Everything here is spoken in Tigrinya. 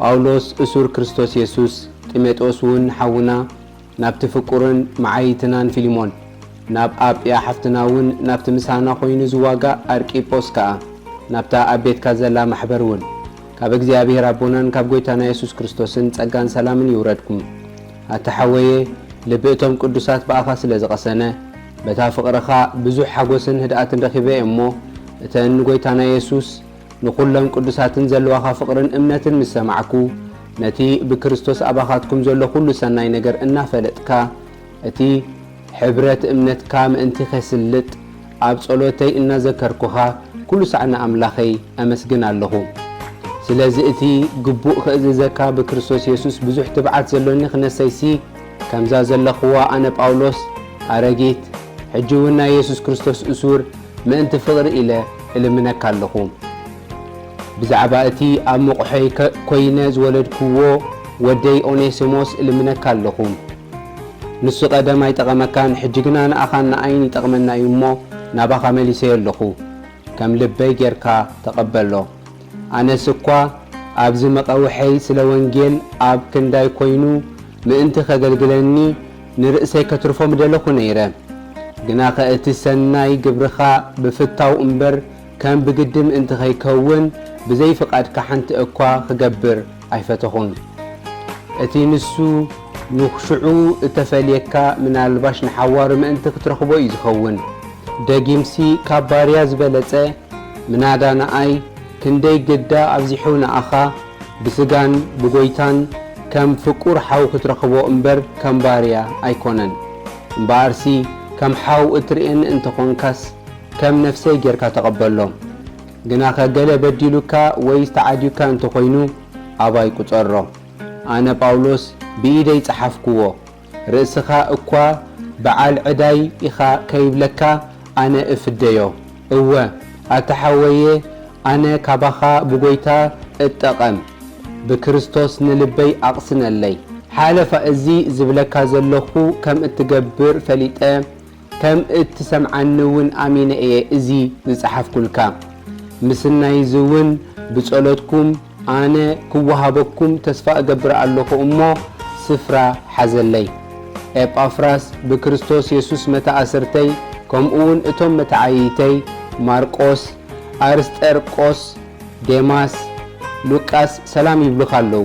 ጳውሎስ እሱር ክርስቶስ የሱስ፣ ጢሞጥዮስውን ሓውና፣ ናብቲ ፍቁርን መዓይይትናን ፊልሞን፣ ናብ ኣጵያ ሓፍትናውን ናብቲ ምሳና ኮይኑ ዝዋጋእ ኣርቂጶስ ከኣ፣ ናብታ ኣብ ቤትካ ዘላ ማሕበርውን፣ ካብ እግዚኣብሄር ኣቦናን ካብ ጐይታና የሱስ ክርስቶስን ጸጋን ሰላምን ይውረድኩም። ኣታ ሓወየ፣ ልቢ እቶም ቅዱሳት ብኣኻ ስለ ዝቐሰነ፣ በታ ፍቕርኻ ብዙሕ ሓጐስን ህድኣትን ረኺበ እየ እሞ፣ እተን ንጐይታና የሱስ፣ ንኹሎም ቅዱሳትን ዘለዋኻ ፍቕርን እምነትን ምስ ሰማዕኩ፣ ነቲ ብክርስቶስ ኣባኻትኩም ዘሎ ኹሉ ሰናይ ነገር እናፈለጥካ፣ እቲ ሕብረት እምነትካ ምእንቲ ኼስልጥ፣ ኣብ ጸሎተይ እናዘከርኩኻ፣ ኩሉ ሳዕ ንኣምላኸይ ኣመስግን ኣሎኹ። ስለዚ እቲ ግቡእ ኽእዝዘካ ብክርስቶስ የሱስ ብዙሕ ትብዓት ዘሎኒ ኽነሰይሲ፣ ከምዛ ዘለኽዋ ኣነ ጳውሎስ ኣረጊት ሕጂ ውን ናይ የሱስ ክርስቶስ እሱር ምእንቲ ፍቕሪ ኢለ እልምነካ ኣለኹ። ብዛዕባ እቲ ኣብ መቝሐይ ኰይነ ዝወለድክዎ ወደይ ኦኔስሞስ እልምነካ ኣለኹ። ንሱ ቀደም ኣይጠቐመካን ሕጂ ግና ንኣኻን ንኣይን ይጠቕመና እዩ እሞ ናባኻ መሊሰዮ ኣለኹ። ከም ልበይ ጌርካ ተቀበሎ ኣነስ እኳ ኣብዚ መቀውሐይ ስለ ወንጌል ኣብ ክንዳይ ኮይኑ ምእንቲ ከገልግለኒ ንርእሰይ ከትርፎ ምደለኩ ነይረ ግናከ እቲ ሰናይ ግብርካ ብፍታው እምበር ከም ብግዲ ምእንቲ ከይከውን ብዘይ ፍቃድካ ሓንቲ እኳ ክገብር ኣይፈተኹን እቲ ንሱ ንሽዑ እተፈልየካ ምናልባሽ ንሓዋሩ ምእንቲ ክትረኽቦ እዩ ዝኸውን ደጊምሲ ካብ ባርያ ዝበለጸ ምናዳ ንኣይ ክንደይ ግዳ ኣብዚሑ ንኣኻ ብስጋን ብጎይታን ከም ፍቁር ሓው ክትረኽቦ እምበር ከም ባርያ ኣይኮነን እምበኣርሲ ከም ሓው እትርእየኒ እንተኾንካስ ከም ነፍሰይ ጌርካ ተቐበሎ ግናኸ ገለ በዲሉካ ወይስ ተዓዲዩካ እንተ ዀይኑ፣ ኣባይ ቍጸሮ። ኣነ ጳውሎስ ብኢደይ ጸሓፍክዎ። ርእስኻ እኳ ብዓል ዕዳይ ኢኻ ከይብለካ ኣነ እፍደዮ። እወ፣ ኣታ ሓወየ፣ ኣነ ካባኻ ብጐይታ እጠቐም። ብክርስቶስ ንልበይ ኣቕስነለይ። ሓለፋ እዚ ዝብለካ ዘሎኹ ከም እትገብር ፈሊጠ፣ ከም እትሰምዓኒ እውን ኣሚነ እየ እዚ ዝጸሓፍኩልካ። ምስናይ እዚ እውን ብጸሎትኩም ኣነ ክወሃበኩም ተስፋ እገብር ኣሎኹ እሞ ስፍራ ሓዘለይ። ኤጳፍራስ ብክርስቶስ የሱስ መተኣስርተይ ከምኡውን እቶም መተዓይይተይ ማርቆስ፣ ኣርስጠርቆስ፣ ዴማስ፣ ሉቃስ ሰላም ይብሉኻ ኣለዉ።